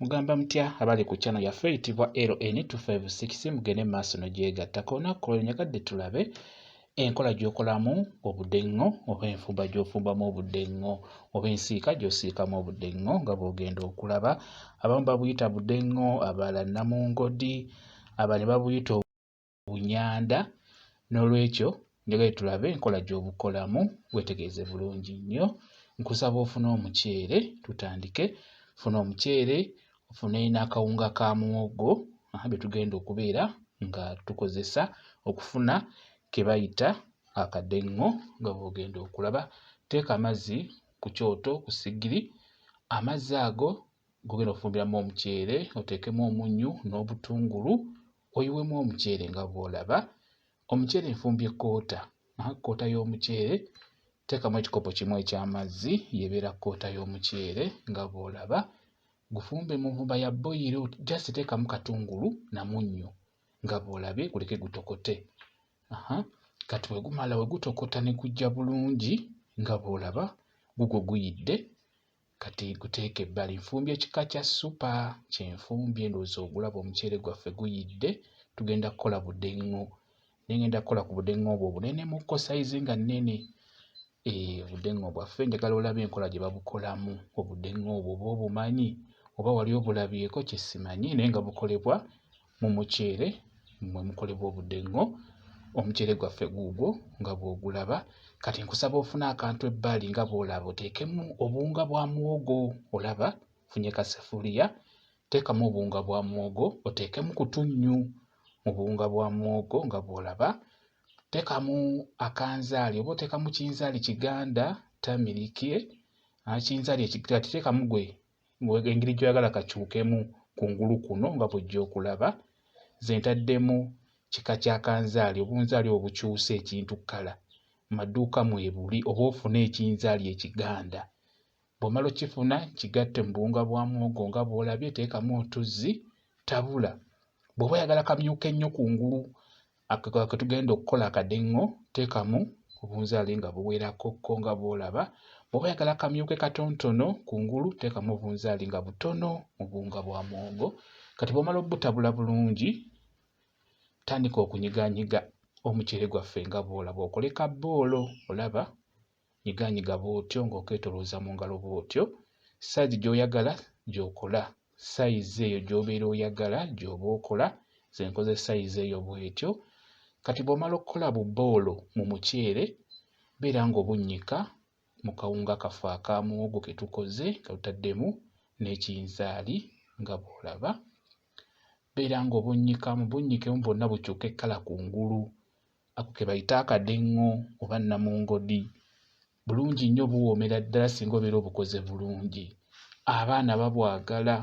Mugamba mutya abali ku channel yaffe eyitibwa LN256 mugende mu maaso n'ogyegattako olunaku ku lwaleero nyagadde tulabe enkola gy'okolamu obudeŋŋo oba enfumba gy'ofumbamu obudeŋŋo oba ensiika gy'osiikamu obudeŋŋo nga bw'ogenda okulaba abamu babuyita budeŋŋo abalala namungodi abali babuyita bunyanda n'olwekyo njagala tulabe enkola gy'obukolamu weetegereze bulungi nnyo nkusaba ofune omuceere tutandike funa omuceere ofune n'akawunga ka muwogo bye tugenda okubeera nga tukozesa okufuna ke bayita akadeŋŋo nga bw'ogenda okulaba teeka amazzi ku kyoto ku sigiri amazzi ago gogenda ofumbiramu omuceere oteekemu omunnyu n'obutungulu oyiwemu omuceere nga bw'olaba omuceere nfumbye koota koota y'omuceere teekamu ekikopo kimu eky'amazzi yebeera koota y'omuceere nga bw'olaba gufumbe mu nvumba ya boyiro just teekamu katungulu na munnyo nga bw'olabye guleke gutokote aha kati bwe gumala bwe gutokota ne gujja bulungi nga bw'olaba gugwo guyidde kati guteeka ebbali nfumbye kika kya supa kyenfumbye ndowooza ogulaba omuceere gwaffe guyidde tugenda kukola budeŋŋo naye ngenda kukola ku budeŋŋo obwo obunenemu ko sayizi nga nnene eh, obudeŋŋo bwaffe njagala olabe enkola gye babukolamu obudeŋŋo obwo oba obumanyi oba wali obulabyeko kyesimanyi naye nga bukolebwa Mu muceere mwe mukolebwa obudengo, omuceere gwaffe guugwo nga bw'ogulaba. Kati nkusaba ofune akantu ebbali nga bw'olaba oteekemu obuwunga bwa muwogo olaba, funye kasefuliya teekamu obuwunga bwa muwogo oteekemu kutunnyu mu buwunga bwa muwogo nga bw'olaba, teekamu akanzaali oba oteekamu kinzaali kiganda tamiriki, kinzaali ekiganda teekamu gwe engeri gyoyagala kakyukemu kungulu kuno nga bwojja okulaba nze ntaddemu kika kya kanzaali obunzaali obukyusa ekintu kkala maduuka mwebuli oba ofune ekinzaali ekiganda bwomala okifuna kigatte mu buwunga bwa muwogo nga bwolabye teekamu otuzzi tabula bw'oba oyagala kamyuka ennyo kungulu Ako ke tugenda okukola akadingo teekamu obunzaali nga buwerako ko nga bw'olaba. Bw'oba oyagala kamyuke katontono kungulu teekamu obunzaali nga butono mu buwunga bwa muwogo. Kati bw'omala obutabula bulungi tandika okunyiganyiga omuceere gwaffe nga bw'olaba okole ka bboolo olaba. nyiganyiga bw'otyo ng'okeetolooza mu ngalo bw'otyo, sayizi gy'oyagala gy'okola, sayizi eyo gy'obeera oyagala gy'oba okola, nze nkoze sayizi eyo bw'etyo. Kati bw'omala okukola bu bboolo mu muceere, beera ng'obunnyika mu kawunga kaffe aka muwogo ke tukoze nga tutaddemu n'ekinzaali nga bw'olaba. Beera ng'obunnyikamu, bunnyikemu bwonna bukyuke kkala kungulu Ako ke bayita akadengo oba namungodi. Bulungi nnyo buwoomera ddala singa obeera obukoze bulungi. Abaana babwagala.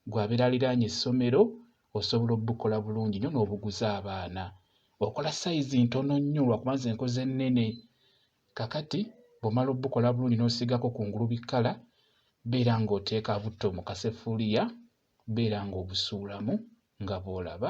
Gwe abeera aliraanye essomero osobola obukola bulungi nnyo n'obuguza abaana. Okola sayizi ntono nnyo lwakuba nze nkoze ennene. Kakati bw'omala obukola bulungi n'osiigako ku ngulu bikkala, beera ng'oteeka butto mu kaseffuliya, beera ng'obusuulamu nga bw'olaba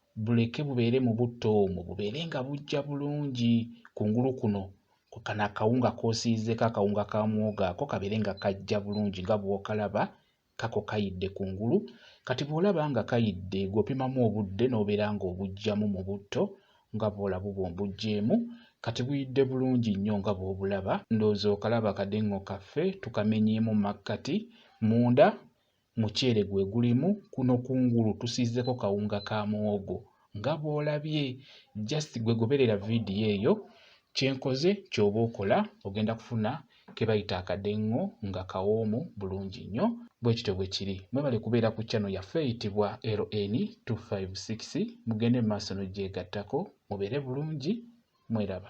buleke bubeere mu butto omwo bubeere nga bujja bulungi kungulu kuno kano akawunga k'osiizeeko akawunga ka muwogo ako kabeere nga kajja bulungi nga bw'okalaba kako kayidde kungulu kati bw'olaba nga kayidde gw'opimamu obudde n'obeera ng'obuggyamu mu butto nga bw'olaba obwo mbuggyemu kati buyidde bulungi nnyo nga bw'obulaba ndowooza okalaba akadeng'o kaffe tukamenyeemu mu makkati munda Muceere gwe gulimu kuno kungulu tusiizeko kawunga ka muwogo nga bw'olabye just gwe goberera vidiyo eyo kyenkoze kyoba okola ogenda kufuna kebayita akadengo nga kawoomu bulungi nnyo bwekityo bwe kiri mwebale kubeera ku channel yaffe eyitibwa LN256 mugende mu maaso n'ogyegattako mubeere bulungi mweraba